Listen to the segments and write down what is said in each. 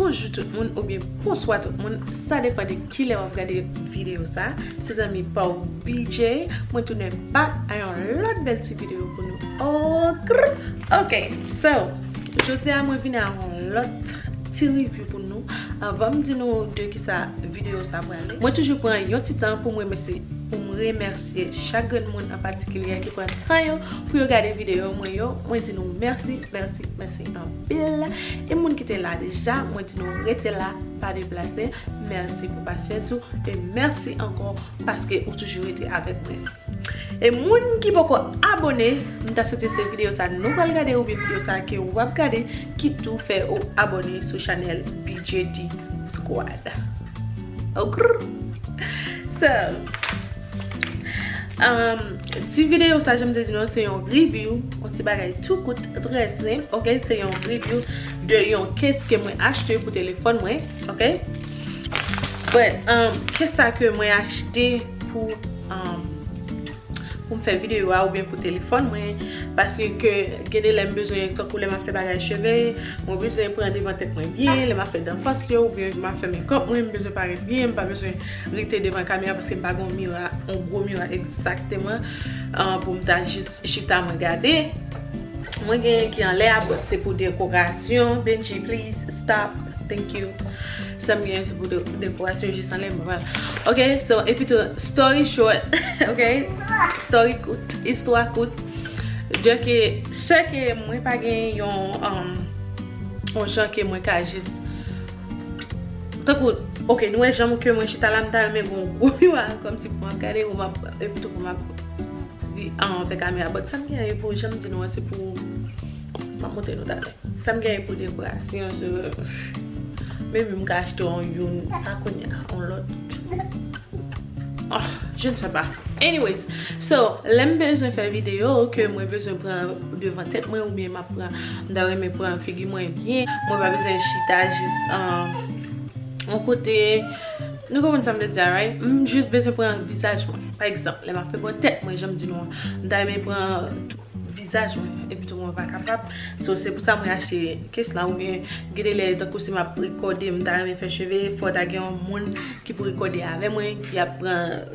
Bonjou tout moun oubyen bonswa tout moun sa depan de kilè wap gade video sa se zanmi paw BJ mwen tounen back a yon lòt bèl ti video pou nou ok ok so jodia mwen vini a yon lòt ti review pou nou avanm di nou de kisa video sa prale mwen toujou pran yon ti tan poum remèsye poum remèsye chak grenn moun an patikilyè ki pran tan yo pou yo gade video mwen yo mwen di nou mèsi mèsi mèsi. Mèsi anpil e moun ki te la deja mwen di nou rete la pa deplase mèsi pou pasyans ou e mèsi ankò paske ou toujou rete avèk mwen e moun ki poko abone m ta swete se videyo sa nou pral gade oubyen videyo sa ke ou ap gade ki tou fè ou abone sou chanèl bgy squad ok so. Ti video sa janm te di nou se yon review Yon ti bagay tou kout trè senp ok Se yon review de yon case ke mwen achte pou telefon mwen ok But Case sa ke mwen achte pou Pou m fè video a oubyen pou telefon mwen Paske ke gen de lè m bezwen Tankou lè m ap fè bagay cheve Mwen bezwen pran devan tèt mwen byen Lè m ap fè danfos yo oubyen m ap fè makeup mwen M bezwen parèt byen M pa bezwen rete devan kamera paske m pa gen yon mira, yon gwo mira egzakteman pou m ta jis chita mwen gade. Mwen gen yon ki anlè a but se pou dekorasyon. Bendjy please stop. Thank you. Sa m gen se pou dekorasyon jis anlè m pran. Ok so epitou story short ok story kout, istwa kout dè ke sè ke mwen pa gen yon yon jan ke mwen ka jis. Tankou ok nou wè janm ke mwen chita la m ta renmen gen yon gwo miwa kòmsi pou m ap gade yo m ap epi tou pou m ap di an anvè kamera but sa m genyen pou janm di nou an se pou m ap montre nou talè sa m genyen pou dekorasyon se maybe m ka achte yon youn pa kounye a yon lòt je ne sais pas anyways so lè m bezwen fè videyo ke mwen bezwen pran devan tèt mwen oubyen m ap M ta renmen pran figi mwen byen. Mwen pa bezwen chita jis yon kote. Nou konprann sa m vle di a right? M jis bezwen pran vizaj mwen. Pa egzanp, lè m ap fè bò tèt mwen, jan m di nou an, m ta renmen pran tou vizaj mwen. Epi tou mwen pa kapab. So, se pou sa mwen achte kes la oubyen gen de lè tankou si m ap rekòde, m ta renmen fè cheve, fò ta gen yon moun ki pou rekòde avè mwen, ki ap pran.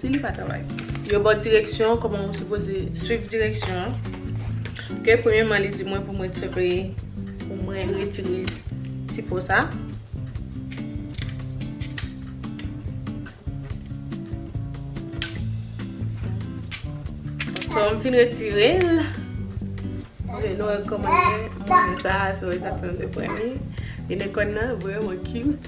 Si li pa travay. Yo baw direksyon kòman ou sipoze swiv direksyon an. Ke premyeman li di mwen pou mwen tire pou mwen retire ti po sa. So m fin retire l. Ok nou wè kòman li ye. Mwen sa a se wè sa fèm de pwen li. Inekòn nan vreman cute.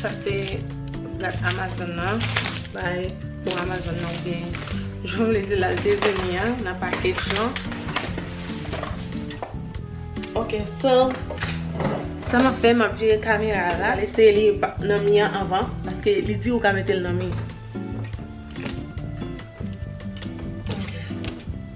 Sa se plat amazon nan. Bay pou amazon nan oubyen jan vle di lal te vini an nan package lan. Ok so sa map fè map vire kamera a la. Eseye li nan mi an anvan paske li di ou ka metel nan mi.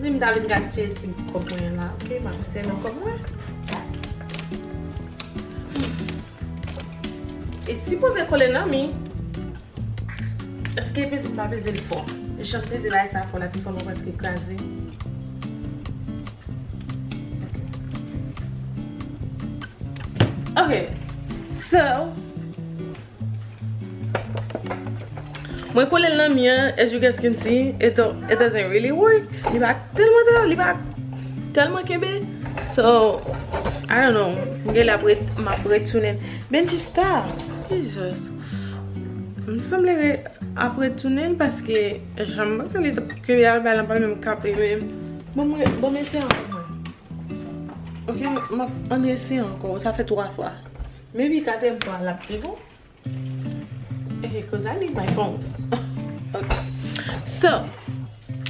Ni m ta vin gaspiye ti bout kòb mwen an la ok m ap sèvi kòb mwen e si poze kole nan mi eske peze m pa peze l fò jan m peze lay sa fò la pi fò mwen prèske kraze ok so Mwen kolel nan mi an as you guys can see it doesn't really work li pa telman ta li pa telman kenbe so I don't know mwen genlè ap ret map retounen Benji stop Jesus m sanble re ap retounen paske janm panse li tap kenbe al bay la pa menm kanpe menm bon mwen banm eseye ankò mwen ok map an eseye ankò sa fè 3 fwa. Maybe gadem vwa lap pi bon ehe cuz I need my phone ok so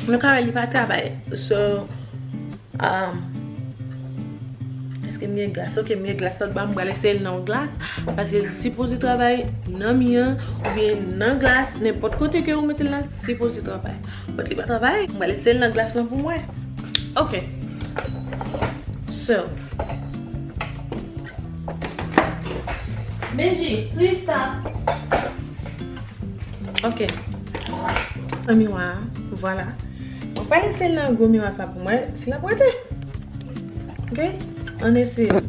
nou ka wè li pa travay so um eske m gen glas ok m gen glas ok banm bal eseye l nan glas paske l sipoze travay nan mi an oubyen nan glas nenpòt kote ke ou mete l la li sipoze travay but li pa travay m bal eseye l nan glas lan pou m wè ok so. Bendji, plis sa. Ok. Pran miwa a. Vwala. Mwen pral eseye nan gwo miwa sa pou mwen. Si l ap rete. Ok. Ann eseye.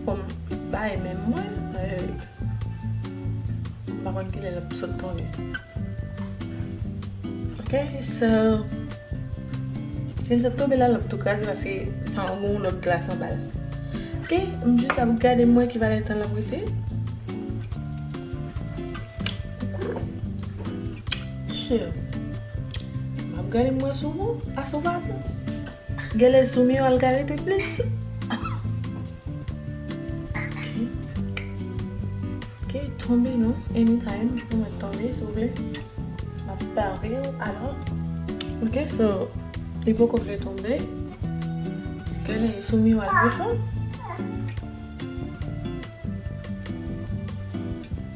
Poum bay menm mwen pa konn kilè lap sot tonbe ok so sil sot tonbe la lap tou kraze paske sa gon yon lòt glas anbal ok m jis ap gade m wè ki valè tan lap rete cheri map gade m wè si w gou a si w pa gou. Gèlè zoom yo al gade pi plis. Ok, tonbe nou anytime. Ou mwen tonbe sou vle. Map pare yo alò. Ok, so li poko vle tonbe. Gèlè zoom yo al pi fon.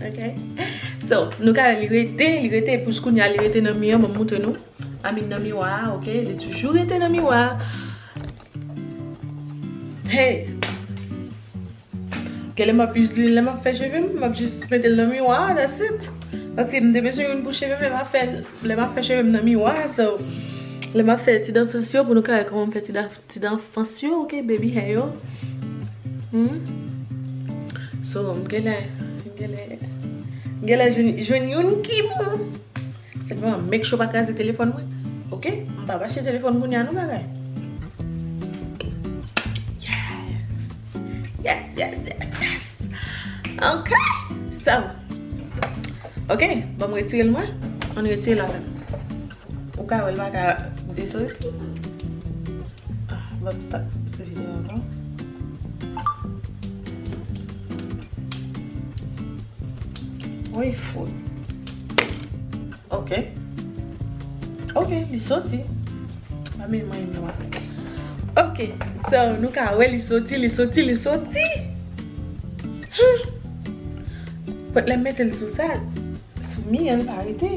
Ok So nou ka wè li rete, li rete pou jkounya li rete nan mi an banm moutre nou I mean nan miwa a ok li toujou rete nan miwa a Hey Genlè map use lil lè map fè chevem map jis metel nan miwa a that's it Paske mte bezwen youn pou chevem lè map fè chevem nan miwa a so lè map fè ti danfos yo pou nou ka wè kòman mfè ti danfos. Ti dan fans yo ok baby hair yo humm so m genlè m genlè m genlè jwenn youn ki bon senpleman make sure pa kraze telefòn mwen ok m pap achte telefòn kounya non bagay yes yes yes yes yes ok so ok banm retire l mwen ann retire l avèm. Ou ka wèl paka desoti. Banm stop sou video an non. Woy fout. Ok. Ok li soti. Mwen menm mwen yon wak. Ok. So nou ka wèl li soti li soti li soti. Pot lèm metel sou sa. Sou mi an pa rete.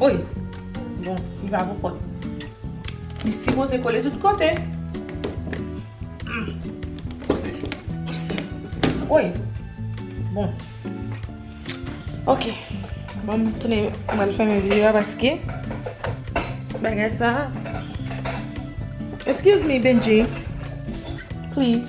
Oy! Bon, li pa pou kòt. Li sipoze kole tout kote. Pouse. Pouse. Oy! Bon. Ok. Bon, m tounen m al fèmen videyo a paske bagay sa a. Excuse me Bendjy. Please.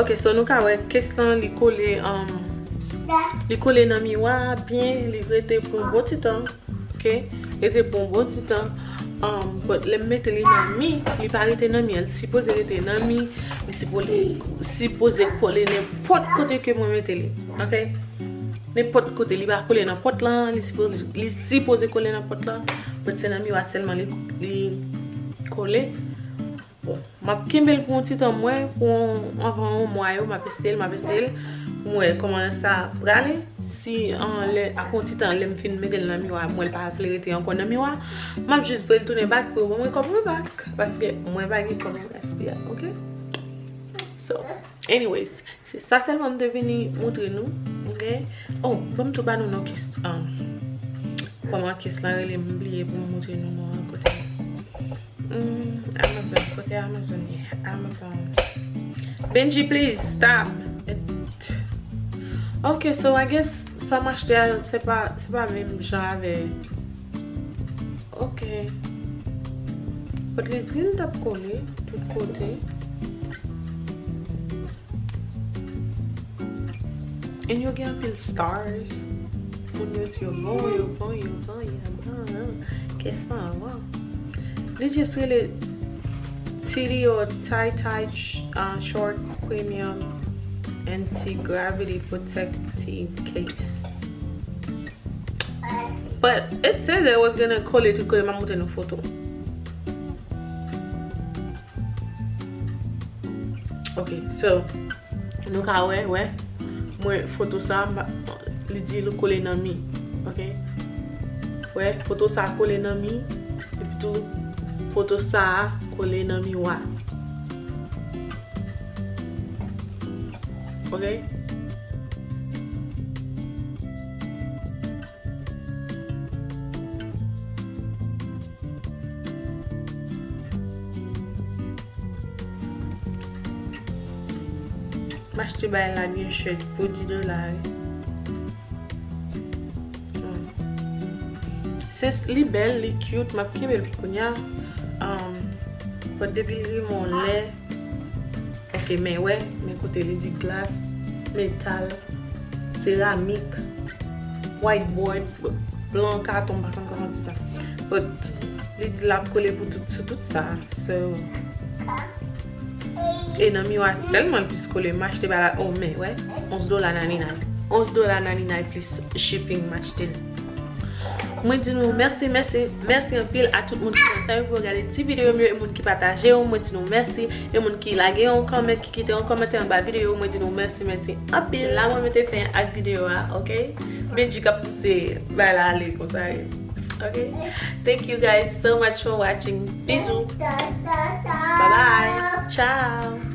Ok so nou ka wè kes lan li kole li kole nan miwa a byen li rete pou yon bon ti tan ok rete pou yon bon ti tan but lèm mete li nan mi li pa rete nan mi an li sipoze rete nan mi li sipoze kole nenpòt kote ke mwen mete li ok nenpòt kote li pa kole nan pòt lan li sipoze kole nan pòt lan but se nan miwa sèlman li kole Map kenbel pou yon ti tan mwen pou anvan yon mwa yo map estel map estel pou mwen koman sa prale si an lè ak yon ti tan lèm fin metel nan miwa mwen pa vle rete ankon nan miwa map jis vwel tounen bak pou yo ban mwen kòb mwen bak paske mwen pa gen kòb pou gaspiya ok so anyways Se sa selman m te vini moutre nou ok oh fom tou ba nou non kis an koman kis lan rele m bliye pou m moutre nou non an kote humm amazon kote amazon ye amazon Bendji please stop et ok so i guess sa m achte a se pa se pa menm jan avè. Ok. Kot li dil tap kole tout kote. And yo gen anpil stars. Moun yo di yo bon, yo bon, yo bon, yo bon. Ke sa wa. Li just rele Titi or Tay Tay Short Premium Anti Gravity Protective Case. But it says it was gonna kole tout kote map montre nou foto Ok so nou ka wè wè mwen foto sa li di li kole nan mi ok wè foto sa kole nan mi epi tou foto sa kole nan miwa ok. M achte bagay la byen chè pou 10 dola wi. Li bèl, li cute, m ap kenbe l pou kounya. Bòt depi l rive yon lè. Ok men wè men kote li di glas, metal, seramik, white board, blan, katon m pa konn kòman di sa but li di lap kole pou tout sou tout sa so e nan miwa tèlman l plis kole m achte bagay oh men wè 11 dola 99 11 dola 99 plis shipping m achte l. Mwen di nou mèsi mèsi mèsi anpil a tout moun ki pran tan yo pou yo gade ti videyo m yo e moun ki pataje yo mwen di nou mèsi e moun ki lage yon comment ki kite yon kòmantè anba videyo mwen di nou mèsi mèsi anpil. La mwen mete fen ak videyo a ok Bendjy kap pouse bagay la ale konsa wi ok Thank you guys so much for watching Bizou Bye bye Ciao.